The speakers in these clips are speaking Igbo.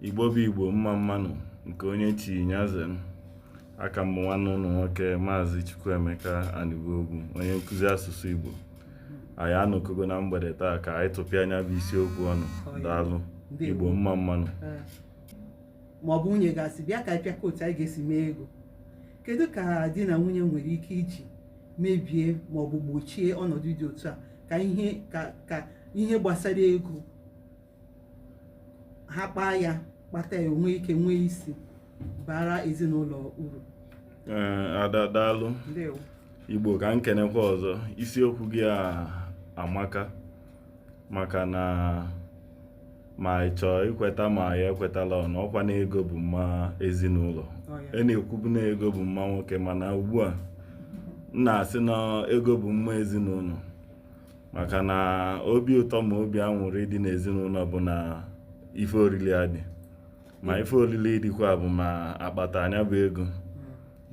igbo bụ igbo mma mmanụ nke onye chi nya ze m aka m bụ nwanne unu nwoke maazị chukwuemeka anigbogu onye nkụzi asụsụ igbo anyị anọkogo na mgbede taa ka anyị tụpịa nya bụ isiokwu ọnụ daalụ igbo mma mmanụ ma ọ bụ nwunye ga-asị bịa ka anyị pịakọ otu anyị ga-esi mee ego kedu ka di na nwunye nwere ike iji mebie ma ọ bụ gbochie ọnọdụ dị otu a ka ihe ka ihe gbasara ego ha kpaa ya kpata ya o nwee ike nwee isi baara ezinụlọ uru ada daalụ igbo ka m kenekwa ọzọ isiokwu gị a amaka maka na ma ị chọọ ikweta ma ya ekwetala ọnụ ọkwa na ego bụ mma ezinụlọ e na-ekwubu na ego bụ mma nwoke mana ugbu a m na-asị na ego bụ mma ezinụlọ maka na obi ụtọ ma obi anwụrị dị n'ezinụlọ bụ na ife oriri adị ma ife oriri dịkwa bụ ma akpata nya bụ ego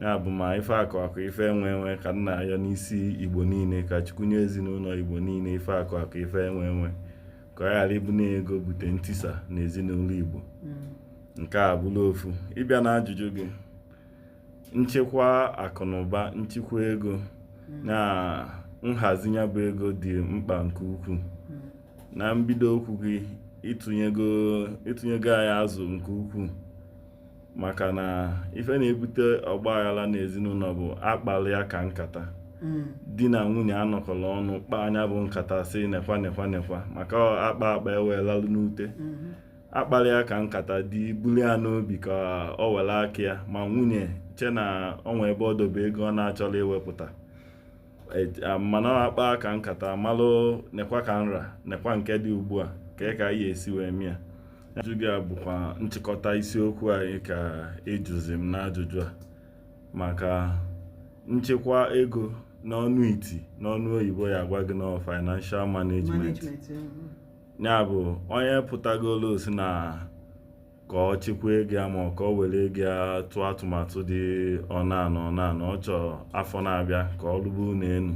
ya bụ ma ife akụ akụ ife enwe enwe ka m na-ayọ n'isi igbo niile ka chukwu nye ezinụlọ igbo niile ife akụ akụ ife enwe enwe ka ọ ghara ịbụ na ego bute ntisa na ezinụlọ igbo hmm. nke a bụlụ ofu ị bịa na ajụjụ gị nchekwa akụ na ụba nchekwa ego hmm. na nhazi nya bụ ego dị mkpa nke ukwuu hmm. na mbido okwu gị ị tụnyego anyị azụ nke ukwuu maka na ife na-ebute ọgba aghara n'ezinụlọ bụ akpali ya ka nkata hmm. di na nwunye anọkọrọ ọnụ kpaa nya bụ nkata sị nekwa nekwa nekwa maka a kpaa akpa e wee lalụ n'ute hmm. akpali ya ka nkata di buli ya n'obi ka o were aka ya ma nwunye che na o nwe ebe ọ dobe ego ọ na-achọrọ iwepụta e, mana a kpaa ka nkata malụ nekwa ka nra nekwa nke dị ugbu a ka ka anyị esi wee mee ya ajụjụ gị a bụkwa nchịkọta isiokwu anyị ka ị jụzi m n'ajụjụ a maka nchekwa ego n'onu i ti n'onu oyibo ya agwa gị na financial management ya bụ onye pụtagolu sị na ka ọ chekwa ego ya ma ka o were ego ya tụọ atụmatụ dị ọna na ọna na ọ chọọ afọ na-abịa ka ọ rụba ụlọ elu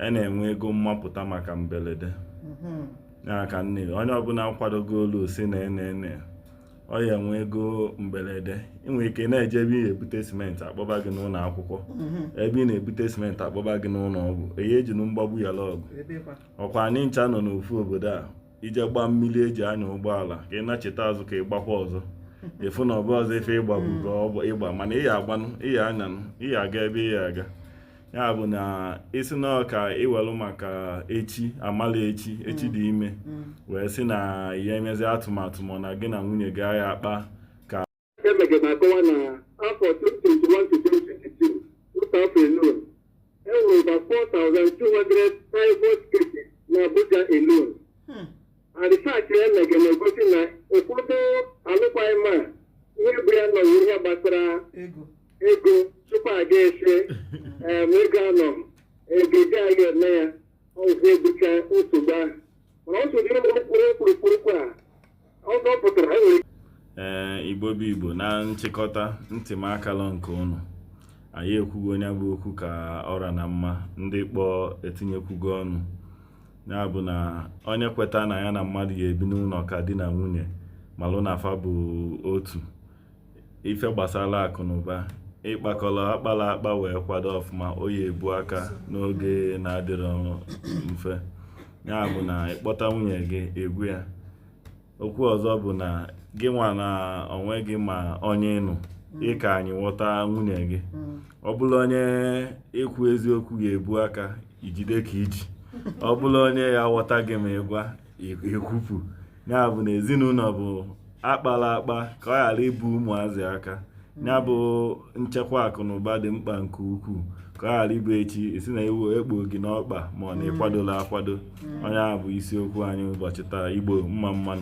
e na-enwe ego mmapụta maka mberede mm-hmm. ya ka nne onye ọbụla kwadogolu sị na enene ọ ya-enwe ego mberede i nwe ike na-eje ebe ị na-ebute simenti a kpọba gị n'ụlọ akwụkwọ mm-hmm. ebe ị na-ebute simenti a kpọba gị n'ụlọ ọgwụ eyi eji nu mgbagbu yala ọgụ ọkwa anyị ncha nọ n'ofu obodo a ị je gbaa mmiri e ji anya ụgbọala ka ị nacheta azụ ka ị gbakwa ọzọ ị fụ na ọ bụ ọzọ ife ị gbabu ka ọ bụ ịgba mana ị ya agbanụ ị ya anyanụ ị ya aga ebe ị ya aga ya bụ na ị sị na ọ ka ị welụ maka echi amala echi echi dị ime wee sị na ị ya emezi atụmatụ ma na gị na nwunye gị ya akpa Emege na-akọwa na afọ 2021-2022 otu afọ alone e nwere over 4,200 divorce cases na Abuja alone Hmm. and research Emege na-egosi na ụfọdụ alụkwaghị m a ihe bụ ya nọ bụ ihe gbasara ego ego tupu a ga-esi em, ego anọ ego ji a ga-eme ya ọgwụ ebucha nsogbu ahụ mana ọ sụdịrị okwu okpurukpu a ee igbo bụ igbo na nchịkọta ntị m akalọ nke unu anyị ekwugo onye bụ okwu ka ọra na mma ndị kpọọ etinyekwugo ọnụ ya bụ na onye kweta na ya na mmadụ ya ebi n'ụlọ ka di na nwunye malụ na fa bụ otu ife gbasara akụ na ụba ị kpakọrọ akpara akpa wee kwado ọfụma ọ ya ebu aka n'oge na-adịrọ mfe ya bụ na ị kpọta nwunye gị ị gwa ya okwu ọzọ bụ na gị nwa na onwe gị ma onye ị nụ ị ka anyị ghọta nwunye gị ọ bụlụ onye i kwu eziokwu ga-ebu aka i jide ka i ji ọ bụlụ onye ya ghọta gị ma ị gwa ekwupụ ya bụ na ezinụlọ bụ akpala akpa ka ọ ghara ibu ụmụazị aka ya bụ nchekwa akụ na ụba dị mkpa nke ukwuu ka ọ ghara ịbụ echi ị sị na iwu ekpo gị n'ọkpa mana ị kwadola akwado ọ nya bụ isiokwu anyị ụbọchị taa igbo mma mmanụ